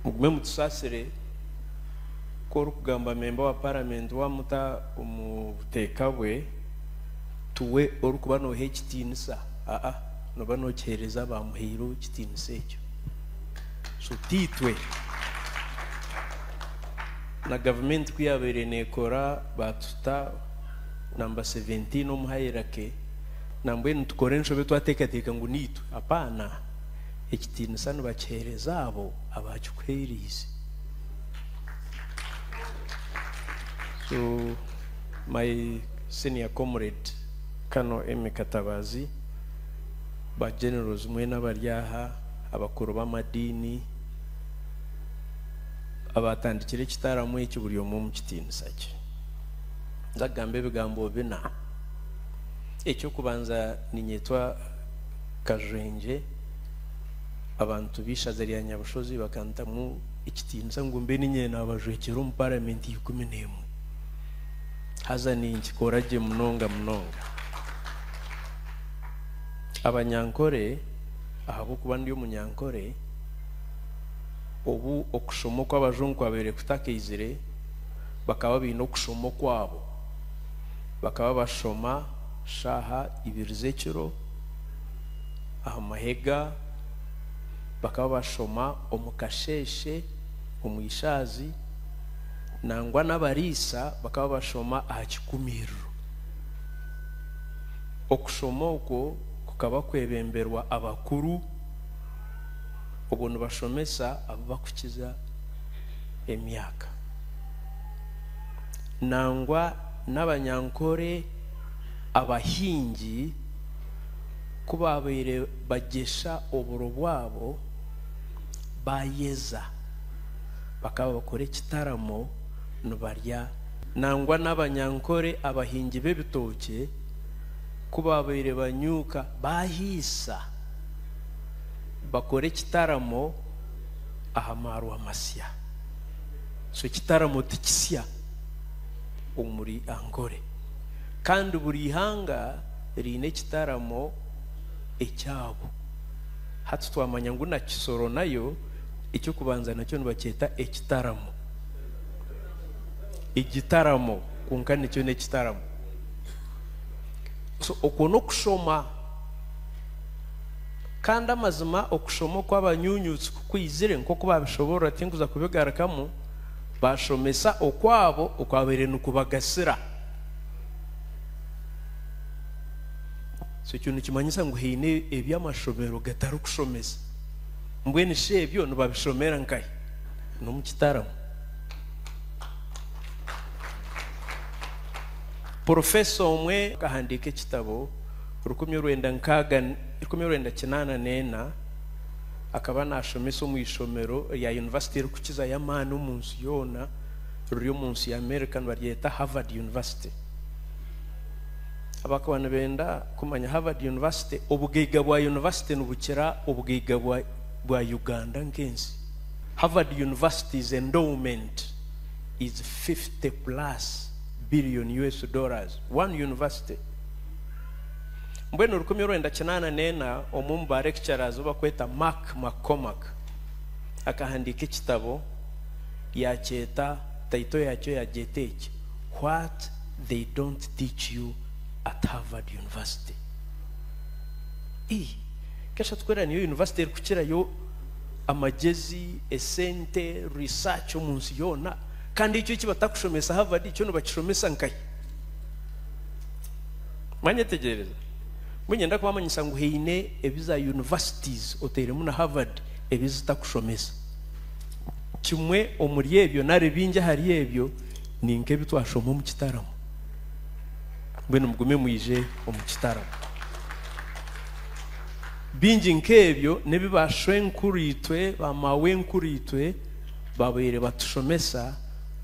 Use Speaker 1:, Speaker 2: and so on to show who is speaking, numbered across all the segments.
Speaker 1: Mugume mutusaasire ku orikugamba memba wa paramenti wamuta omu buteeka bwe, tuwe orikuba noha ekitiinisa aa noba nokihereza abamuhaire ekitiinisa ekyo so tiitwe. Na gavumenti ku yaabaire nekora baatuta namba 17 omu hairake. Nambwenu tukora enshobe twateekateeka ngu niitwe. Apaana! Ekitiinisa nibakiheereza abo abaakikuheereize. So, my senior comrade Colonel Emmy Katabaazi, ba Generals mwena abari aha, abakuru b'amadiini, abaatandikire ekitaramo eki buri omwe omu kitiinisa kye. Nza kugamba ebigambo bina. Eky'okubanza ninyetwa Kajwengye, abantu b'eishaza rya Nyabushozi bakantamu ekitiinisa ngu mbe niinye naabajwekyera omu Paramenti ya ikumi n'emwe. Haza ninkikora gye munonga munonga. Abanyankore, ahabw'okuba ndi omunyankore, obu okushoma okw'abajungu kwabaire kutakaizire, bakaba baine okushoma okwabo. bakaba bashoma shaaha ibiri z'ekiro aha mahega, bakaba bashoma omu kasheeshe, omu ishaazi nangwa n'abariisa bakaba bashoma aha kikumiiriro. Okushoma okwo kukaba kwebemberwa abakuru obwo nibashomesa abu bakukiza emyaka. nangwa n'abanyankore abahingi ku baabaire bagyesha oburo bwabo, baayeza, bakaba bakora ekitaramo nibarya. Nangwa n'abanyankore abahingi b'ebitookye ku baabaire banyuuka, baahaisa, bakora ekitaramo aha maarwa masya. So ekitaramo tikisya omuri Ankole kandi buri ihanga riine ekitaramo ekyabo. Hati twamanya ngu na Kisoro nayo eky'okubanza nakyo nibakyeta ekitaramo. Egitaramo kwonka nikyo n'ekitaramo. So okwo n'okushoma. Kandi amazima okushoma okw'abanyunyutsi Ku aizire, nk'oku baabishoboorora tinkuza kubigarukamu, baashomesa okwabo okwabaire nikubagasira. So ekyo nikimanyisa ngu haine ebi amashomero gatarikushomesa. Mbwenu shi ebyo nibabishomera nkahi? N'omu kitaramo. Porofesa omwe akahandiika ekitabo, rukumi orwenda nkaaga, rukumi orwenda kinaana n'ena, akaba naashomesa omu ishomero rya yunivasite erikukiza y'amaani omu nsi yoona riri omu nsi y'Amerika nibaryeta Harvard University. Abakaba nibenda kumanya Harvard University, obugaiga bwa yunivasite nibukira obugaiga bwa, bwa Uganda nk'ensi. Harvard University's endowment is 50 plus billion US dollars. One university. Mbwenu rukumi orwenda kinaana n'ena omwe omu ba lecturers ou barikweta Mark McCormack akahandiika ekitabo yaakyeta title yaakyo yaagyeta eki What They Don't Teach You at Harvard University. Ii, Kesha tukwereka niyo yunivasite erikukirayo amagyezi, esente, research omu nsi yoona. Kandi ekyo eki batakushomesa Harvard kyo nibakishomesa nkahi? Mwanyetegyereza? Mbwenu nyenda kubamanyisa ngu haine ebi za universities, oteiremu na Harvard, ebi zitakushomesa. Kimwe omuri ebyo, nari bingi ahari ebyo, ni nk'ebi twashoma omu kitaramo. Mbwenu mugume mwije omu kitaramo. Bingi nk'ebyo n'ebi ba shwenkuru-itwe, ba maawenkuru-itwe baabaire batushomesa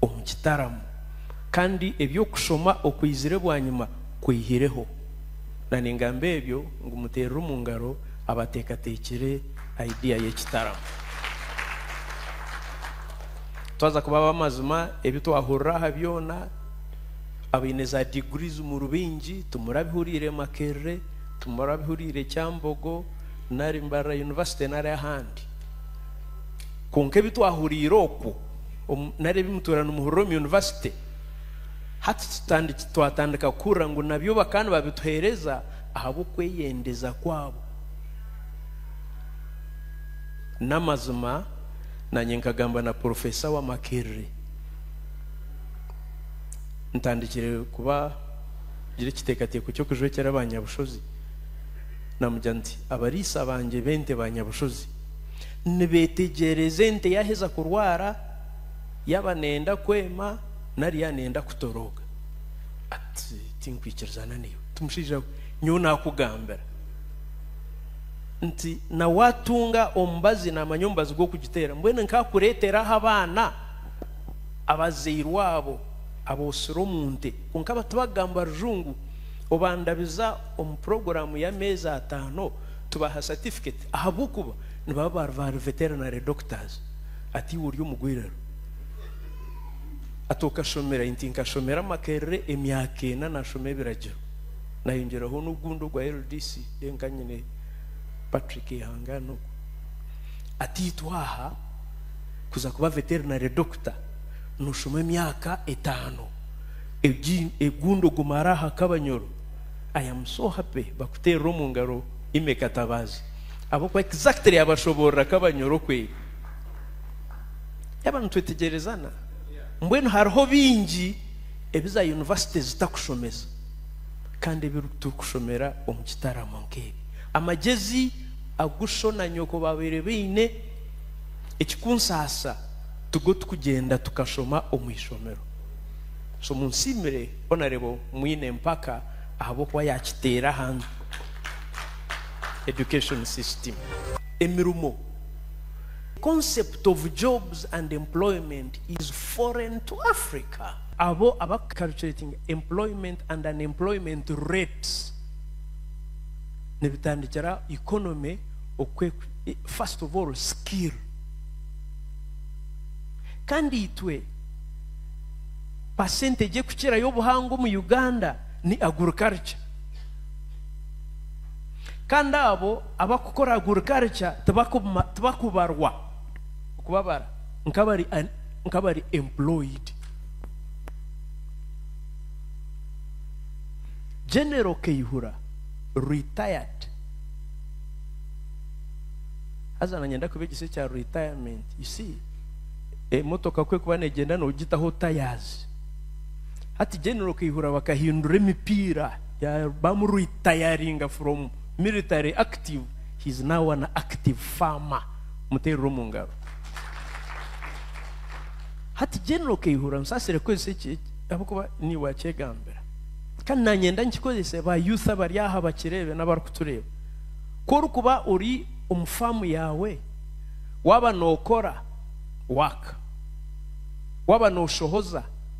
Speaker 1: omu kitaramo. Kandi eby'okushoma okwizire bwanyima kwihireho. Na ningamba ebyo ngu muteerere omu ngaro abateekateekire idea y'ekitaramo. Twaza kuba ab'amazima, ebi twahurira aha byona, abaine za degrees mu rubingi, timurabihuriire Makerere, timurabihuriire Kyambogo, nari Mbarara University nari ahandi. Kwonka ebi twahuriire okwo. Omu nari ebi mutuura nimuhurira omu yunivasite, hati tutandiki, twatandika kuhurira ngu nabyo bakaba nibabituheereza ahabw'okweyendeza kwabo. N'amazima, naanye nkagamba na Porofeesa wa Makerere, ntandikire kuba gira ekiteekateeko ky'okujwekyera ba nyabushozi, namugira nti, Abariisa bangye b'ente ba nyabushozi. nibeetegyereza ente yaaheza kurwara, yaaba neeyenda kwema nari yaaba neeyenda kutorooka. Ati, Tinkwikirizana naiwe. Ati, Mushaija we, nyowe naakugambira nti na waatunga omubazi naamanya omubazi gw'okugiteera, mbwenu nkaakureetera aha baana abazairwe abo abotsire omu nte kwonka aba tibakugamba Rujungu, obandabiza omu puroguraamu y'ameezi ataano tubaha certificate. Ahabw'okuba nibaba baari ba veterinary doctors. Ati, Iwe ori omu gwirero? Ati, Okashomera? Inti, Nkashomera Makerere emyaka ena nashoma ebiragiro. Nayongyeraho n'ogundi ogwa LDC. Then ka nyine Patrick Ihangane ogwo. Ati, Itwe aha kuza kuba veterinary doctor noshoma emyaka etaano. Egi, egundi ogumara aha kabanyoro. I am so happy bakuteerera omu ngaro. Ime Katabazi ab'okuba exactly yabashoborora ka banyora okweri. Yaba nitwetegerezana? Mbwenu hariho bingi ebi za university zitakushomesa kandi ebi turikushomera omu kitaramo nk'ebi. Amagezi agu sho na nyoko babaire baine ekikunsaasa tigo tukugyenda tukashoma omu ishomero. So munsiimire Honourable Mwine Mpaka ahabw'okuba yakiteera ahantu. education system, emirimo, the concept of jobs and employment is foreign to Africa. Abo abaku calculating employment and unemployment rates nibitandikira economy okwe first of all skill kandi itwe percentage ekukirayo obuhango omu Uganda ni agriculture. Kandi abo abakukora agurikalikya tibakubarwa, okubabara, nk'abari employed. General Kaihura, retired, haza na nyenda kubegyesa ekya retirement, you see, emotoka ku ekuba negyenda nogitaho tyres. Hati General Kaihura bakahindura emipiira ya bamu ritayaringa from military active he is now an active farmer muteerere omu ngaro. Hati General Kaihura nsaasire kukozesa eki ahabw'okuba niiwe akyegambira kandi nanyenda nkikozese ba youth abari aha bakireebe n'abarikutureeba ku orikuba ori omu faamu yaawe waaba nookora work waaba nooshohoza,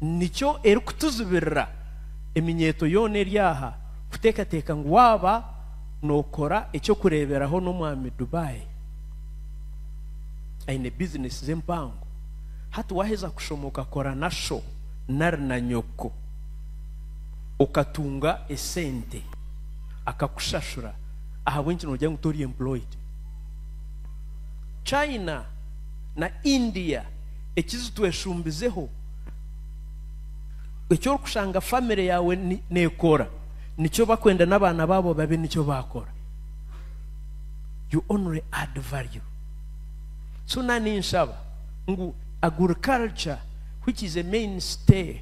Speaker 1: nikyo erikutuzibirira eminyeeto yoona eri aha kuteekateeka ngu waaba nookora eky'okureeberaho n'omwami Dubai aine bizineesi ze mpango, hati waaheza kushoma okakora na sho nari na nyoko, okatunga esente, akakushashura ahabw'enki noogira ngu tori employed? China na India. ekizitweshumbizeho, eki orikushanga famire yaawe neekora, nikyo bakwenda n'abaana baabo babe nikyo baakora. You only add value. So na ninshaba ngu agriculture which is a main stay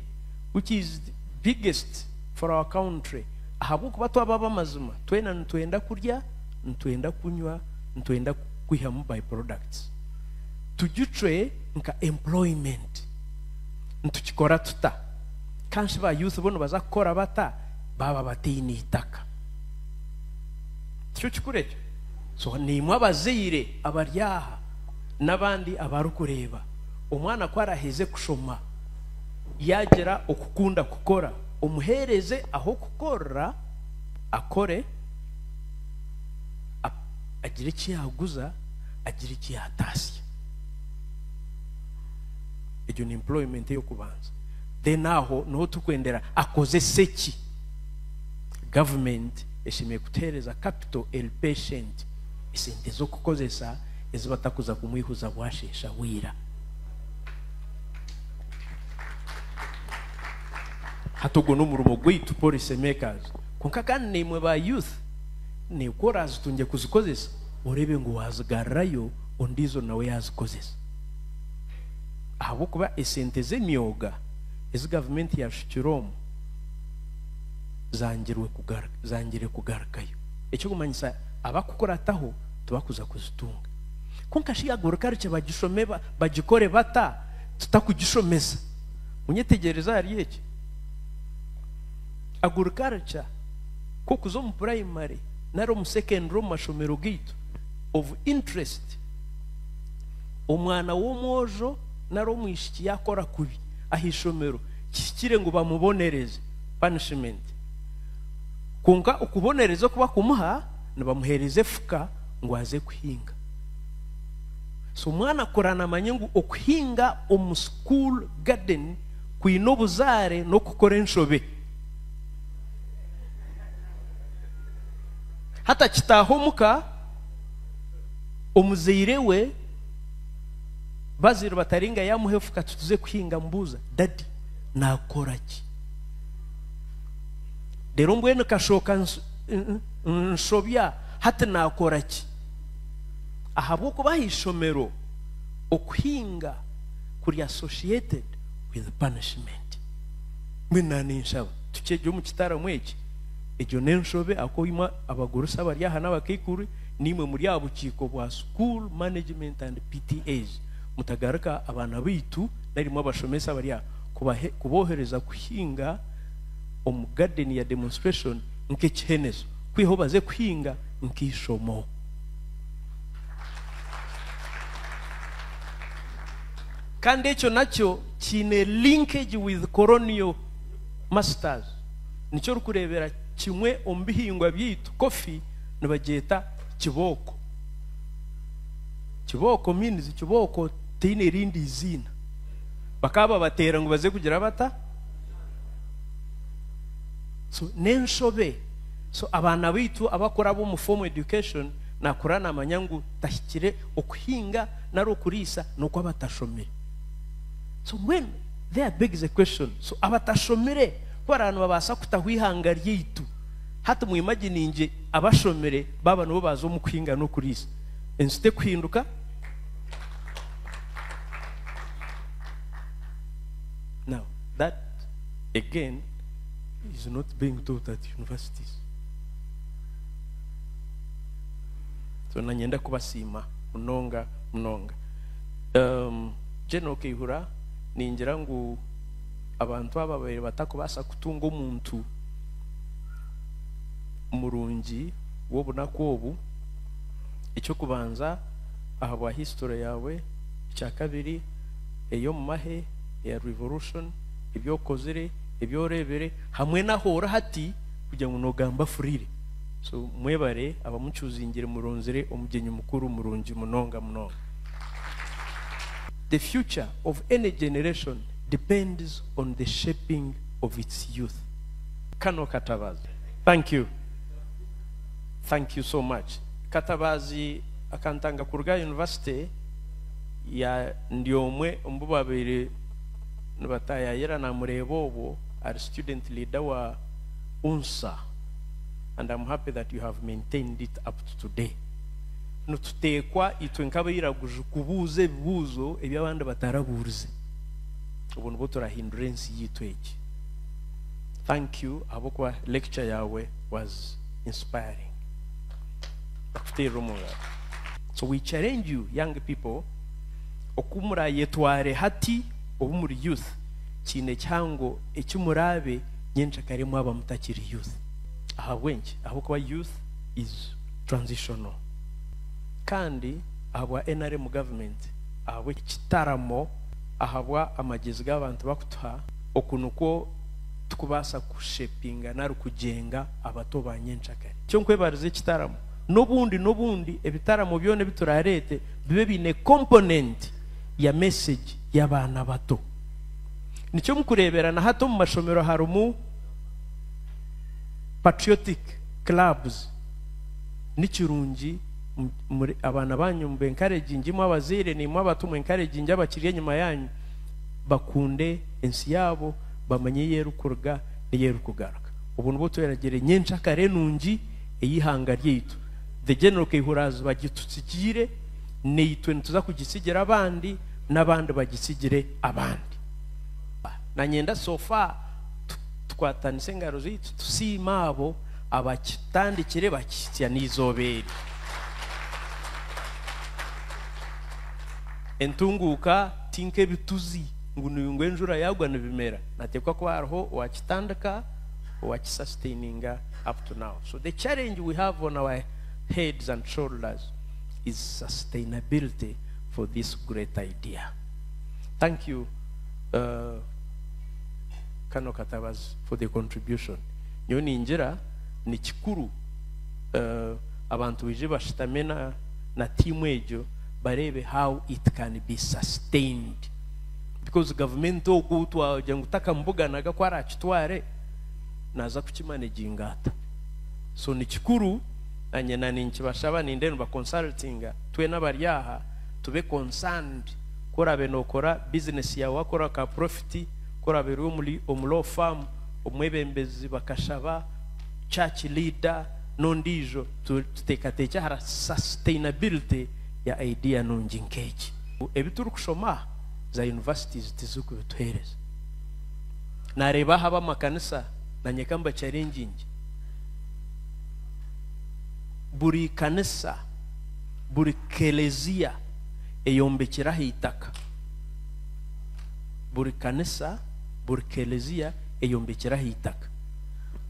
Speaker 1: which is biggest for our country ahabw'okuba twaba ab'amazima twena nitwenda kurya, nitwenda kunywa, nitwenda kwihamu by products. tugicwe nka employment nitukikora tuta kanshi ba youth bo nibaza kukora bata baaba bataine itaka tikyo kikuru ekyo so nimwe abazaire abari aha n'abandi abarikureeba omwana ku araheze kushoma yaagira okukunda kukora omuheereze ah'okukorera akore agire eki yaaguza agira eki yaataasya. Egyo ni employment ey'okubanza. Then aho niho turikwendera akozese ki? Government eshemereire kutuheereza capital eri patient, esente z'okukozesa ezi batakuza kumwihuza bwasheesha bwira. Hati ogwo n'omurimo gwaitu policy makers. Kwonka kandi naimwe ba youth, neekora zitungye kuzikozesa. oreebe ngu waazigarurayo ondiijo nawe yaazikozesa. Ahabw'okuba esente z'emyoga ezi gavumenti yaashukire omu zangire kugarukayo, ekirikumanyisa abarikukurataho tibarikuza kuzitunga. Kwonka shi yaagaruka rukye bagishome bagikore bata tutarikugishomesa? Munyetegyereze ahari eki. Agaruka rukya, kw'okuza omu purayimare. nari omu secondary omu mashomero gaitu of interest omwana w'omwojo nari omwishiki yakora kubi ahaishomero kihikire ngu bamubonereze punishment kwonka okubonereza okuba kumuha nibamuhereza efuka ngu aze kuhinga so omwana akura namanye ngu okuhinga omu school garden kwine obuzaare n'okukora enshobe hatakitaaho omuka omuzaire we bazaire batari nga yamuha efuka tutuze kuhinga amubuuza dadi nakora ki rero mbwenu kashooka nsobya hati nakora ki ahabw'okuba aha ishomero okuhinga kuri associated with punishment mbwenu naninshaba tukyegye omu kitaramu eki Egyo n'enshobe ahakuba imwe abagurusi abari aha n'abakaikuru naimwe muri aha bukiiko bwa School Management and PTAs mutagaruka abaana baitu nari imwe abashomesa abari aha kubahe kuboohereza kuhinga omu gaadeni ya demonstration nk'ekihenezo kwihaho baze kuhinga nk'eishomo. Kandi ekyo nakyo kiine linkage with Colonial Masters. Nikyo orikureebera kimwe omu bihingwa byaitu, kofi nibagyeta kibooko. Kibooko means kibooko teine erindi eiziina. Bakaba babateera ngu baze kugira bata? So n'enshobe. So abaana baitu abakuraba omu formal education nakura namanya ngu tahikire okuhinga nari okuriisa n'oku abatashomire. So mbwenu There begs a question, so abatashomire kubaraba nibabaasa kutaho eihanga ryaitu? Hati mu imaginingye abashomire baaba nibo baaza omu kuhinga n'okuriisa, ensi tekuhinduka? Now that again is not being taught at universities. So nanye ndakubasiima munonga munonga. Um, General Kaihura. ningira ngu abantu aba babaire batakubaasa kutunga omuntu murungi w'obunaku obu. Eky'okubanza ahabwa hisitore yaawe, ekyakabiri eri omu mahe eya rivorushoni, ebi okozire, ebi oreebire hamwe n'ahu ori hati kugira ngu noogamba afuriire. So mwebare abamucuuzingire muronzire omugyenyi mukuru murungi munonga munonga. The future of any generation depends on the shaping of its youth. Kano katabazi thank you thank you so much katabazi akantanga kuruga aha university ya ndi omwe omu bu babaire nibatayayira namureeba obwo ari student leader wa UNSA and am happy that you have maintained it up to today. nituteekwa itwe nk'abairaguju kubuuza ebibuuzo ebi abandi batarabuurize. Obwo nibwo turahindura ensi yaitu egi. Thank you ahabw'okuba lecture yaawe was inspiring. Ndakuteerera omu ngaro. So we challenge you young people oku muraayetware hati obu muri youth kiine ekihango eki muraabe nyencakare mwaba mutakiri youth. Ahabw'enki? Ahabw'okuba youth is. Transitional kandi ahabwa nrm government ahabwa ekitaramo ahabwa amagyezi gabantu bakutuha oku nikwo tukubaasa ku shapinga nari kugyenga abato ba nyenkyakare kyo nkwebariza ekitaramo nobundi nobundi ebitaramo byona ebi turareete bibe biine component ya message yabaana abato nikyo mukureebera nahati omu mashomero harimu patriotic. Clubs ni kirungi abaana banyu mu ba encouraginge imwe abazaire nimwe abatu mu encouraginge abakiri enyuma yanyu bakunde ensi yaabo bamanye ei erikuruga n'ei erikugaruka. Obwo nibwo tweragira enyencakare nungi ey'eihanga ryaitu. The General Kaihuraaziba agitutsigiire naitwe nituza kugitsigira abandi n'abandi bagitsigire abandi. Nanye nda so far. tukwatanise engaro zaitu tusiime abo abakitandikire bakihitsya n'eizooba eri. Entunguuka ti nk'ebituzi ngu ngu enjura yaagwa nibimera. Nateekwa kuba hariho owakitandika, owakisasiteininga up to now. So the challenge we have on our heads and shoulders is sustainability for this great idea. Thank you. Uh, Kano katabazi for the contribution nyowe ningira nikikuru abantu baije bashutame na tiimu egyo bareebe how it can be sustained because gavumenti ogu twagira ngu takamubuganaga ku arakitware naza kukimanaginga ata so nikikuru nanye na ninkibashaba ninde nibakonsultinga twena abari aha tube concerned ku oraabe nookora bizineesi yaawe waakora ka purofiti, ku oraabe ori omu law firm, omwebembezi, bakashaba, church leader n'ondiijo. Tuteekateekye aha sustainability ya idea nungi nk'egi. Ebi turikushoma aha, za universities tizirikubituheereza. Naareeba aha ab'amakanisa naanye ka mbachalengyingye, buri kanisa, buri kelezia, eyombekire aha itaka. Buri kanisa, buri kelezia eyombekire aha itaka.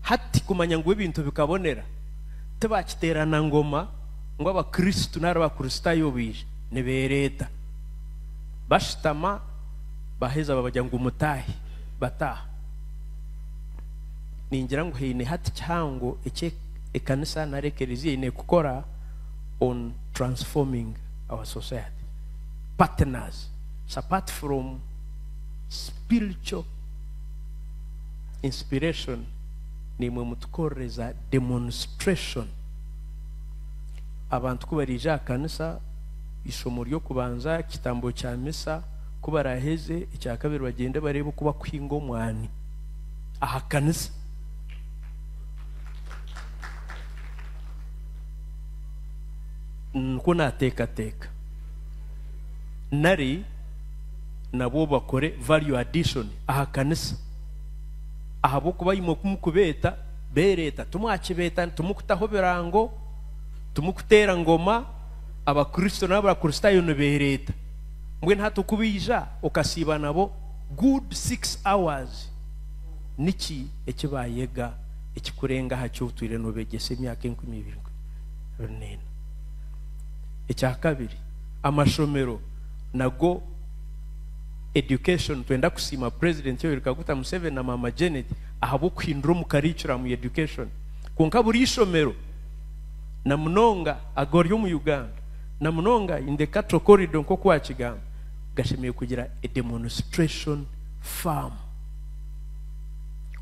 Speaker 1: Hati kumanya ngu ebintu bikabonera, tibakiterana ngoma ngu abakristo nari abakristaayo baija nibereeta. Bashutama baheza babagira ngu mutaahe, bataaha. Ningira ngu haine hati kihango eki ekanisa nari ekelezia eine kukora on transforming. our society partners apart from spiritual inspiration nimwe mutukorereza demonstration abantu kubarija aha kanisa eishomo ry'okubanza ekitambo kya misa kubaraheze ekyakabiri bagyende bareebe oku bakuhinga omwani aha kanisa Nikwo nateekateeka. Nari nabwo bakore value addition aha kanisa. Ahabw'okuba imwe ku mukubeeta, beereeta. Timwakibeeta, timukutaho birango, timukuteera ngoma. Abakristo n'Abakristaayo nibeereeta. Mbwenu hati ku baija okasiiba nabo good six hours, niki eki baayega ekikurenga aha ki otwire noobeegyesa emyaka enkumi ibiri? runeena. Ekya kabiri, amashomero nago education twenda kusiima president Yoweri Kaguta Museveni na maama Janet ahabw'okuhindura omu curriculum ya education kwonka buri ishomero na munonga agari omu Uganda na munonga in the cattle corridor nk'oku wakigamba gashemereire kugira a demonstration farm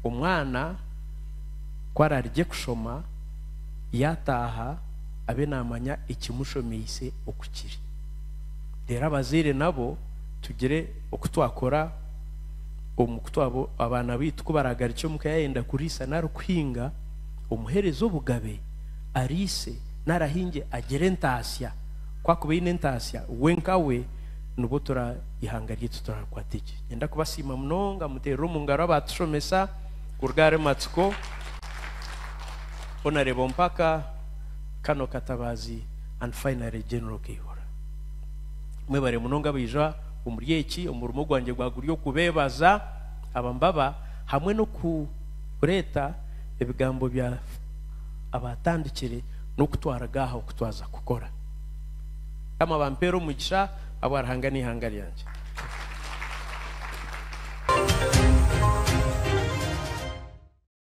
Speaker 1: omwana ku ararigye kushoma. yaataaha abe naamanya ekimushomeise oku kiri. Reero abazaire nabo tugire oku twakora omu ku twaba abaana baitu ku baraagarukye omu ka yaayenda kuriisa nari kuhinga, omuheereze obugabe ariise nari ahinge agire entaatsya. Ku akuba aine entaatsya, we nkawe nibwo tura eihanga ryaitu turaarikwate gye. Niinyenda kubasiima munonga muteerere omu ngaro abaatushomesa kuruga ahari Matsiko. Hona reeba Ompaka, Kano Katabazi and finally General Kaihura. Mwebare munonga abaija omuri eki omurimo gwangye gwa guri okubebaza aba mbaba hamwe n'okureeta ebigambo bya abatandikire n'okutwaraga aha okutwaza kukora. Mukama abampeere omugisha ahabwa Ruhanga n'eihanga ryangye.